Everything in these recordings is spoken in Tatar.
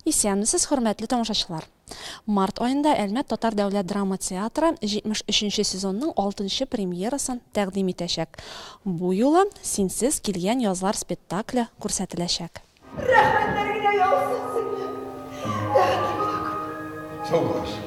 Исәнмесез, хөрмәтле тамашачылар! Март аенда Әлмәт татар дәүләт драма театры 73 нче сезонның алтынчы премьерасын тәкъдим итәчәк. Бу юлы Синсез килгән язлар спектакле күрсәтеләчәк. Рәхмәтләр генә яусын сезгә! Тәкъдим итү күп. Саубуллашыйк.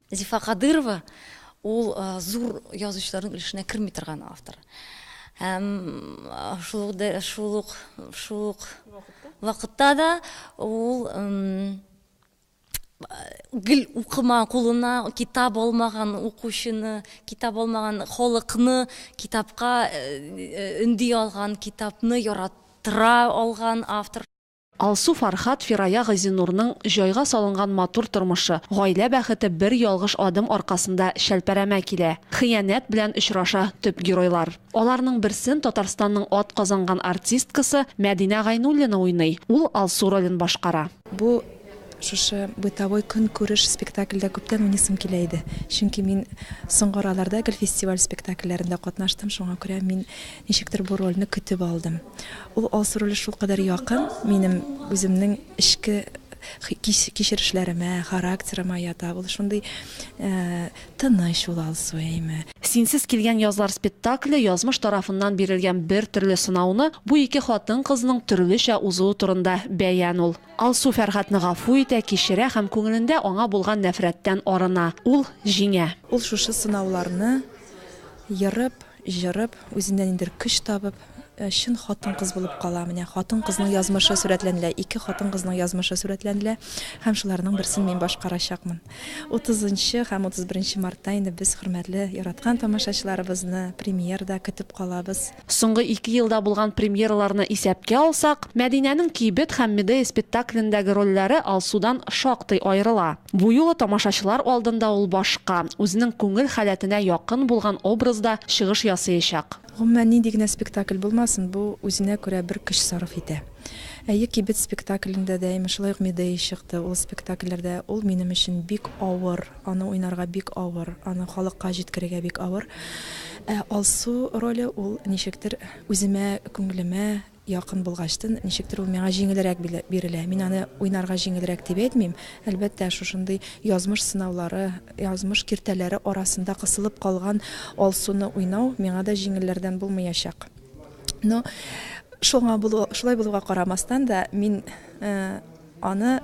Зифа Кадырова ул зур язучыларның өлешенә керми торган автор. Һәм шул ук шул ук шул ук вакытта да ул гел укыма кулына китап алмаган укучыны, китап алмаган халыкны китапка өнди алган, китапны яратыра алган автор. Алсу Фархат, Фирая Газинурның җайга салынган матур тормышы, гаилә бәхете бер ялгыш адым аркасында чәлпәрәмә килә. Хыянәт белән очраша төп геройлар. Аларның берсен Татарстанның атказанган артисткасы Мәдинә Гайнуллина уйный, ул Алсу ролен башкара. Бу шушы бытовой көнкүреш спектакльдә күптән уйныйсым килә иде. Чөнки мин соңгы араларда гел фестиваль спектакльләрендә катнаштым, шуңа күрә мин ничектер бу рольне көтеп алдым. Ул алсу роле шулкадәр якын минем үземнең эчке кичерешләремә, характерыма ята. Ул шундый тыныч ул алсу, әйме. Синсез килгән язлар спектакле язмыш тарафыннан бирелгән бер төрле сынауны бу ике хатын-кызның төрлечә узуы турында бәян ул. Алсу Фәргатьне гафу итә, кичерә һәм күңелендә аңа булган нәфрәттән арына. Ул җиңә. Ул шушы сынауларны ерып, Җырып, үзеннән ниндер көч табып, чын хатын-кыз булып кала. Менә хатын-кызның язмышы сурәтләнелә, ике хатын-кызның язмышы сурәтләнелә һәм шуларның берсен мин башкарачакмын. Утызынчы һәм утыз беренче мартта инде без хөрмәтле, яраткан тамашачыларыбызны премьерада көтеп калабыз. Соңгы ике елда булган премьераларны исәпкә алсак, Мәдинәнең Кибет һәм Медея спектаклендәге рольләре Алсудан шактый аерыла. Бу юлы тамашачылар алдында ул башка, үзенең күңел халәтенә якын булган образда чыгыш ясыячак. Гомумән, нинди генә спектакль булмасын, бу үзенә күрә бер көч сарыф итә. Әйе, Кибет спектаклендә дә имеш шулай ук Медея чыкты. Ул спектакльләрдә ул минем өчен бик авыр, аны уйнарга бик авыр, аны халыкка җиткерергә бик авыр. Ә Алсу роле ул ничектер үземә, күңелемә. Якын булгачтын, ничектер ул миңа җиңелрәк бирелә. Мин аны уйнарга җиңелрәк дип әйтмим. Әлбәттә, шушындый язмыш сынаулары, язмыш киртәләре арасында кысылып калган Алсуны уйнау миңа да җиңелләрдән булмыячак. Но, шуңа булу, шулай булуга карамастан да, мин Аны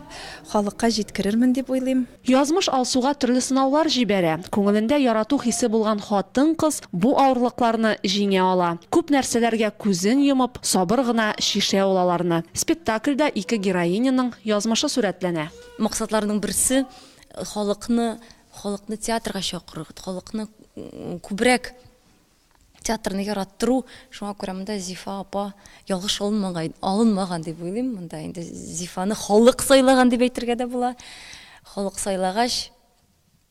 халыкка җиткерермен дип уйлыйм. Язмыш Алсуга төрле сынаулар җибәрә. Күңелендә ярату хисе булган хатын-кыз бу авырлыкларны җиңә ала. Күп нәрсәләргә күзен йомып, сабыр гына чишә ул аларны. Спектакльдә ике героиняның язмышы сурәтләнә. Максатларның берсе, халыкны халыкны театрга чакыру, халыкны күбрәк театрны яраттыру, шуңа күрә монда Зифа апа ялгыш алынмаган, алынмаган дип уйлыйм. Монда инде Зифаны халык сайлаган дип әйтергә дә була. Халык сайлагач,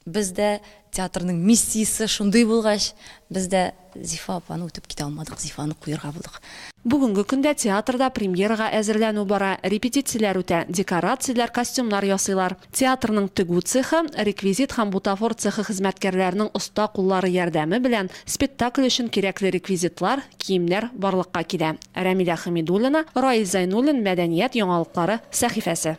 без дә театрның миссиясе шундый булгач, без дә Зифа апаны үтеп китә алмадык, Зифаны куярга булдык. Бүгенге көндә театрда премьерага әзерләнү бара, репетицияләр үтә, декорацияләр, костюмнар ясыйлар. Театрның тегү цехы, реквизит һәм бутафор цехы хезмәткәрләренең оста куллары ярдәме белән спектакль өчен кирәкле реквизитлар, киемнәр барлыкка килә. Рәмилә Хәмидуллина, Раил Зәйнуллин Мәдәният яңалыклары сәхифәсе.